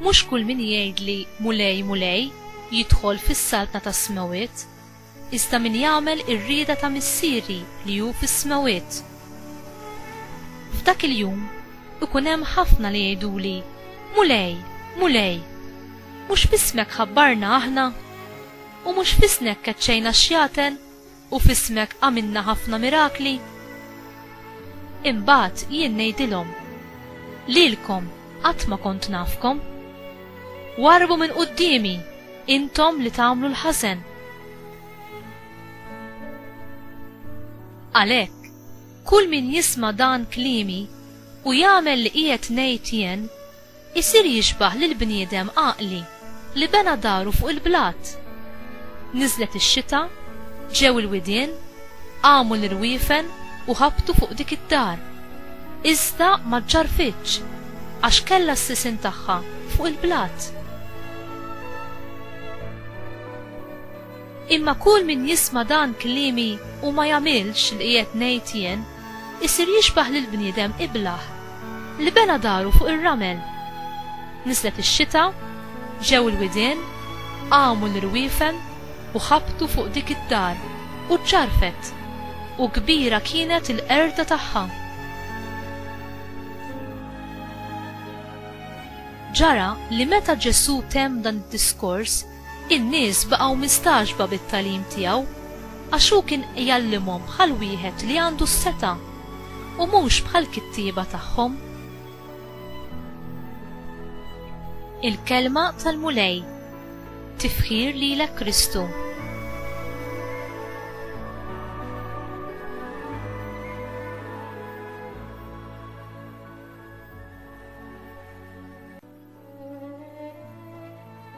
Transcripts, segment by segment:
Mhux kull min jgħidli, 'Mulej, Mulej, jidħol fis-saltna tas-smewwiet, iżda min jagħmel ir-rieda ta' Missieri li hu fis-smewwiet. F'dak il-jum ikun hemm ħafna li jgħiduli, 'Mulej, Mulej, mhux f'ismek ħabbarna aħna, u mhux f'isnek keċċejna x-xjaten, U f'ismek għamilna ħafna mirakli? Imbagħad jien ngħidilhom, Lilkom qatt ma kont nafkom. Warrbu minn quddiemi, intom li tagħmlu l-ħażen! Għalhekk, kull min jisma' dan kliemi u jagħmel li qiegħed ngħid jien, Isir jixbah lill-bniedem għaqli li bena daru fuq il-blat. Niżlet ix-xita, ġew il-widien, qamu l-irwiefen u ħabtu fuq dik id-dar. Iżda ma ġġarrfitx, għax kellha s-sisien tagħha fuq il-blat. Imma kull min jisma' dan kliemi u ma jagħmilx li qiegħed ngħid jien, Isir jixbah lill-bniedem iblah li bena daru fuq ir-ramel. Niżlet ix-xita, ġew il-widien, qamu l-irwiefen u ħabtu fuq dik id-dar u ġġarfet, u kbira kienet il-qerda tagħha. Ġara li meta Ġesù temm dan id-diskors, In-nies baqgħu mistagħġba bit-tagħlim tiegħu, għax hu kien jgħallimhom bħal wieħed li għandu s-setgħa, u mhux bħall-kittieba tagħhom. Il-Kelma tal-Mulej Tifħir lilek Kristu!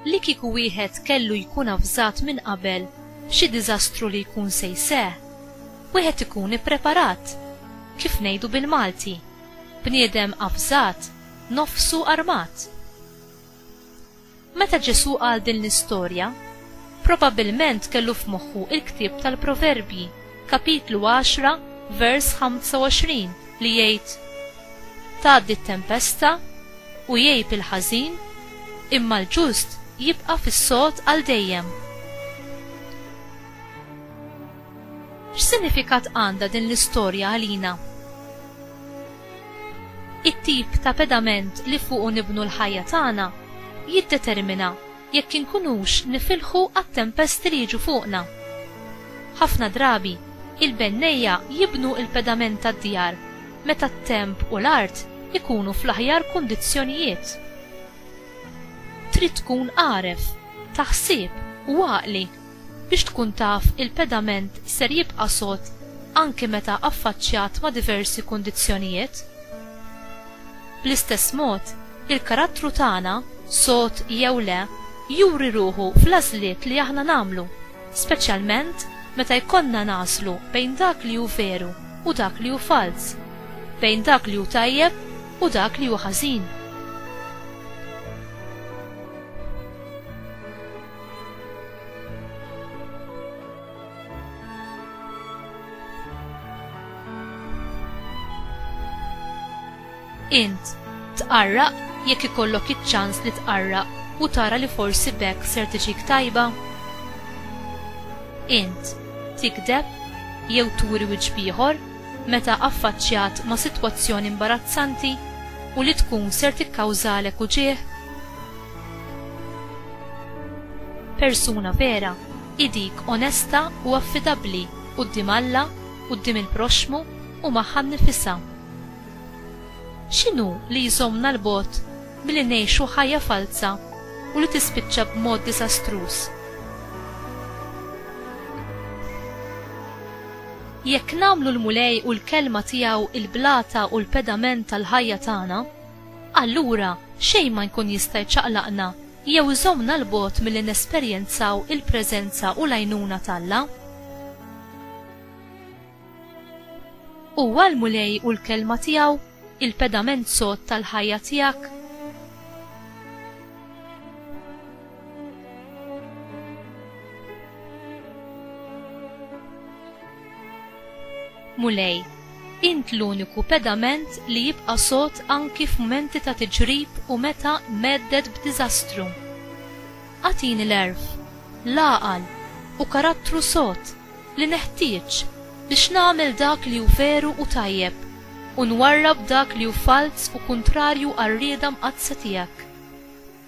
Li kieku wieħed kellu jkun avżat minn qabel b'xi diżastru li jkun se jseħħ, wieħed ikun ippreparat, kif ngħidu bil-Malti, bniedem avżat, nofsu armat. Meta Ġesù qal din l-istorja, Probabbilment kellu f'moħħu l-ktieb tal-Proverbji, kapitlu għaxra, vers ħamsa u għoxrin, li jgħid, Tgħaddi t-tempesta, u jgħib il-ħażin, imma l-ġust jibqa' fis-sod għal dejjem. X'sinifikat għandha din l-istorja għalina? It-tip ta' pedament li fuqu nibnu l-ħajja tagħna jiddetermina jekk inkunux nifilħu għat-tempesti li jiġu fuqna. Ħafna drabi, il-bennejja jibnu l-pedament tad-djar meta t-temp u l-art ikunu fl-aħjar kundizzjonijiet. Trid tkun għaref, ta ħsieb u għaqli Biex tkun taf il-pedament ser jibqa' sod anki meta affaċċjat ma' diversi kundizzjonijiet? Bl-istess mod, il-karattru tagħna, sod jew le, juri ruħu fl-għażliet li aħna nagħmlu, speċjalment meta jkollna nagħżlu bejn dak li hu veru u dak li hu falz, bejn dak li hu tajjeb u dak li hu ħażin. Int tqarraq jekk ikollok iċ-ċans li tqarraq u tara li forsi bekk ser tiġik tajba? Int tikdeb jew turi wiċċ bieħor meta affaċċjat ma' sitwazzjoni imbarazzanti u li tkun ser tikkawżalek uġigħ? Persuna vera hi dik onesta u affidabbli quddiem Alla, quddiem il-proxxmu u magħha nnifisha. X'inhu li jżommna 'l bogħod milli ngħixu ħajja falza u li tispiċċa b'mod diżastruż? Jekk nagħmlu l-Mulej u l-Kelma tiegħu l-blata u l-pedament tal-ħajja tagħna, allura xejn ma jkun jista' jċaqlaqna jew iżommna 'l bogħod milli nesperjenzaw il-preżenza u l-għajnuna t'Alla. Huwa l-Mulej u l-Kelma tiegħu, il-pedament sod tal-ħajja tiegħek. Mulej, int l-uniku pedament li jibqa' sod anki f'mumenti ta' tiġrib u meta mhedded b'diżastru. Agħtini l-għerf, l-għaqal, u karattru sod li neħtieġ biex nagħmel dak li hu veru u tajjeb u nwarrab dak li hu falz u kuntrarju għar-rieda mqaddsa tiegħek.